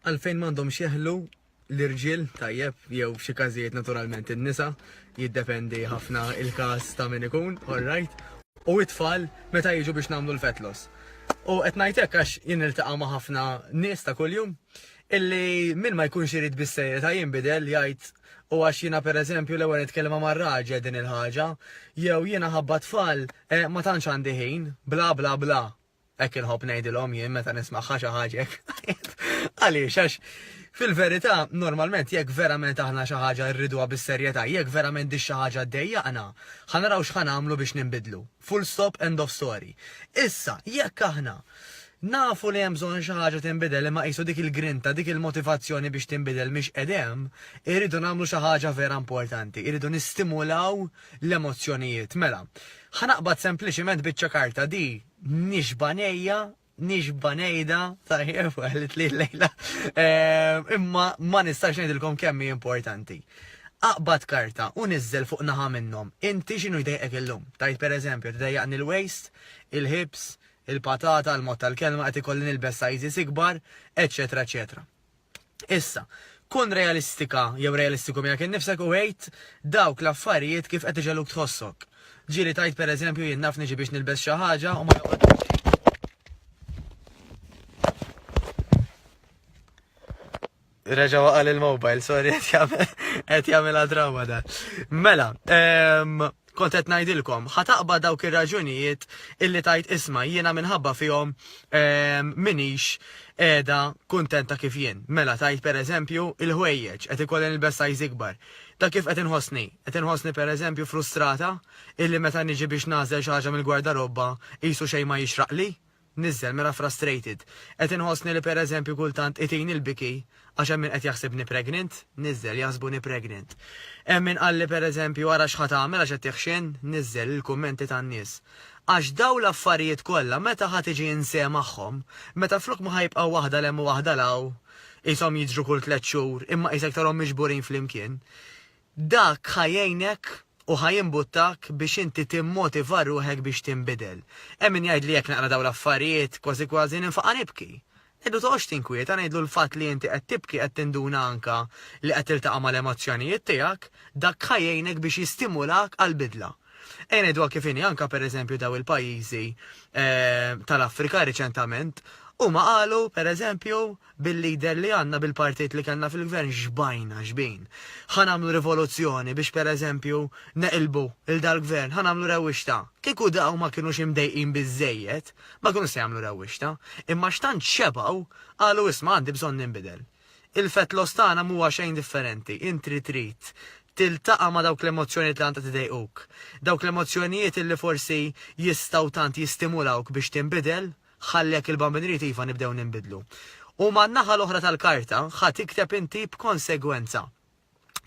Għalfejn m'għandhomx jeħlu l-irġiel tajjeb jew f'xi każijiet naturalment in-nisa jiddependi ħafna il-każ ta' min ikun, orrajt, u t-tfal meta jiġu biex nagħmlu l-fetlos. U qed ngħid hekk għax jien niltaqa' ma' ħafna nies ta' kuljum illi min ma jkunx irid bis-serjetà jinbidel jgħid u għax jiena pereżempju l-ewwel nitkellem ma' raġel din il-ħaġa jew jiena ħabba tfal eh, ma tantx għandi ħin, bla bla bla. Hekk inħobb ngħidilhom jien meta nisma' ħaxa ħaġek. Għaliex għax fil-verità normalment jekk verament aħna xi ħaġa rriduha bis-serjetà, jekk verament di xi ħaġa ddejjaqna, ħa naraw x'ħa nagħmlu biex ninbidlu. Full stop end of story. Issa, jekk aħna nafu li hemm bżonn xi ħaġa tinbidel imma qisu dik il-grinta, dik il-motivazzjoni biex tinbidel mhix qedem, irridu nagħmlu xi ħaġa vera importanti, irridu nistimulaw l-emozzjonijiet. Mela, ħa naqbad sempliċiment biċċa karta di nixba' ngħejja, nixba' ngħidha, tajjeb qalitli l-lejla, eh, imma ma nistax ngħidilkom kemm hi importanti. Aqbad karta u niżżel fuq naħa minnhom. Inti x'inhu jdejqek illum? Tajt pereżempju, tidejjaqni l-waist, il-hips, il-patata, l-mod tal-kelma qed ikolli nilbes sizes ikbar, eċetera, eċetera. Issa, kun realistika jew realistiku miegħek innifsek u għid dawk l-affarijiet kif qed iġegħluk tħossok. Ġieli tgħid pereżempju jien naf niġi biex nilbes xi ħaġa u ma joqgħodx Reġa waqal il-mobile, sorry, għet jamela drawa da. Mela, ehm, Kont qed ngħidilkom, ħa taqbad dawk ir-raġunijiet illi tgħid isma' jiena minħabba fihom m'iniex qiegħda kuntenta kif jien. Mela tgħid pereżempju, il-ħwejjeġ, qed ikolli nilbes size ikbar. Dak kif qed inħossni? Qed inħossni pereżempju frustrata illi meta niġi biex nagħżel xi ħaġa mill-gwardarobba qisu xejn ma jixraqli? Niżżel mela frustrated. Qed inħossni li per eżempju kultant itini l-biki għax hemm min qed jaħsibni pregnant. Niżżel, jaħsbuni pregnant. Hemm min qalli per eżempju ara x'ħa tagħmel għax qed tihxin. Niżżel, il-kummenti tan-nies. Għax dawn l-affarijiet kollha meta ħa tiġi inse magħhom, meta flok ma ħa jibqgħu waħda 'l hemm u waħda 'l hawn, qishom jiġru kull tliet xhur, imma qisek tarhom miġburin flimkien, Dak ħa jgħinek u ħa jimbuttak biex inti timmotiva ruħek biex tinbidel. Hemm min jgħid li jekk naqra dawn l-affarijiet, kważi kważi ninfaqa' nibki. Ngħidlu toqgħodx tinkwieta, ngħidlu l-fatt li inti qed tibki qed tinduna anke li qed tiltaqa' mal-emozzjonijiet tiegħek, dak ħa jgħinek biex jistimulak għall-bidla. Ejja ngħiduha kif inhi, anke per eżempju daw il-pajjiżi tal-Afrika riċentament, huma qalu, per eżempju, Bil-leader li għandna, bil-partit li kellna fil-gvern xbajna xbin. Ħa nagħmlu rivoluzzjoni biex per eżempju neqilbu 'l dal-gvern, ħa nagħmlu rewwixta. Kieku dawn ma kinux imdejqin biżżejjed, ma kinux se jagħmlu rewwixta. Imma x'tant xebgħu, qalu isma' għandi bżonn ninbidel. Il-fat loss tagħna m'huwa xejn differenti, inti trid tiltaqa' ma' dawk l-emozzjonijiet li tant qed idejquk. Dawk l-emozzjonijiet illi forsi jistgħu tant jistimulawk biex tinbidel. Ħalli jekk il-Bambin irid iva nibdew ninbidlu. U man-naħa l-oħra tal-karta ħa tikteb inti b'konsegwenza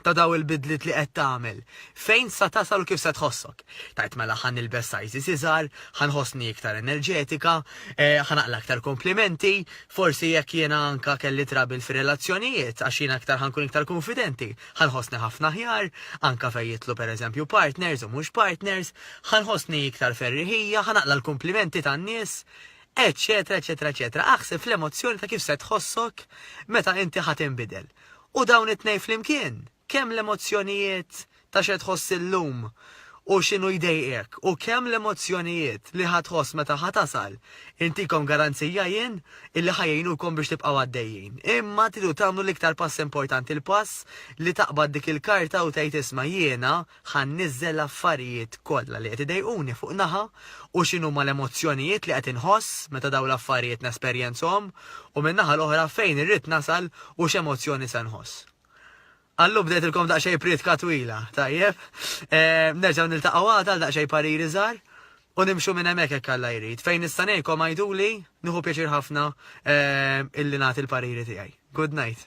ta' dawn il-bidliet li qed tagħmel, fejn sa tasal u kif se tħossok. Tgħid mela ħa nilbes sizes iżgħar, ħa nħossni iktar enerġetika, eh, ħa naqla aktar komplimenti, forsi jekk jiena anka kelli trabil fir-relazzjonijiet għax jiena aktar ħankun iktar kunfidenti. Ħa nħossni ħafna aħjar, anke fejn jidħlu pereżempju partners u mhux partners, ħa nħossni iktar ferriħija, ħa naqla' l-kumplimenti tan-nies, eċċetera eċċetera eċċetera. Aħseb fl-emozzjoni ta' kif se tħossok meta inti ħa tinbidel. U dawn it-tnejn flimkien, kemm l-emozzjonijiet ta' x'qed tħoss illum u x'inhu jdejqek u kemm l-emozzjonijiet li ħa tħoss meta ħa tasal, intikom garanzija jien illi ħa jgħinukom biex tibqgħu għaddejjin. Imma tridu tagħmlu l-iktar pass importanti, l-pass li taqbad dik il-karta u tgħid isma' jiena ħa nniżżel l-affarijiet kollha li qed idejquni fuq naħa u x'inhuma l-emozzjonijiet li qed inħoss meta dawn l-affarijiet nesperjenzhom u min-naħa l-oħra fejn irrid nasal u x'emozzjoni se nħoss. Qallu bdejtilkom daqsxejn prietka twila, tajjeb. Nerġgħu niltaqgħu għada għal daqsxejn pariri żgħar u nimxu minn hemmhekk hekk Alla jrid. Fejn nista' ngħinkom għiduli, nieħu pjaċir ħafna illi nagħti l-pariri tiegħi. Goodnight.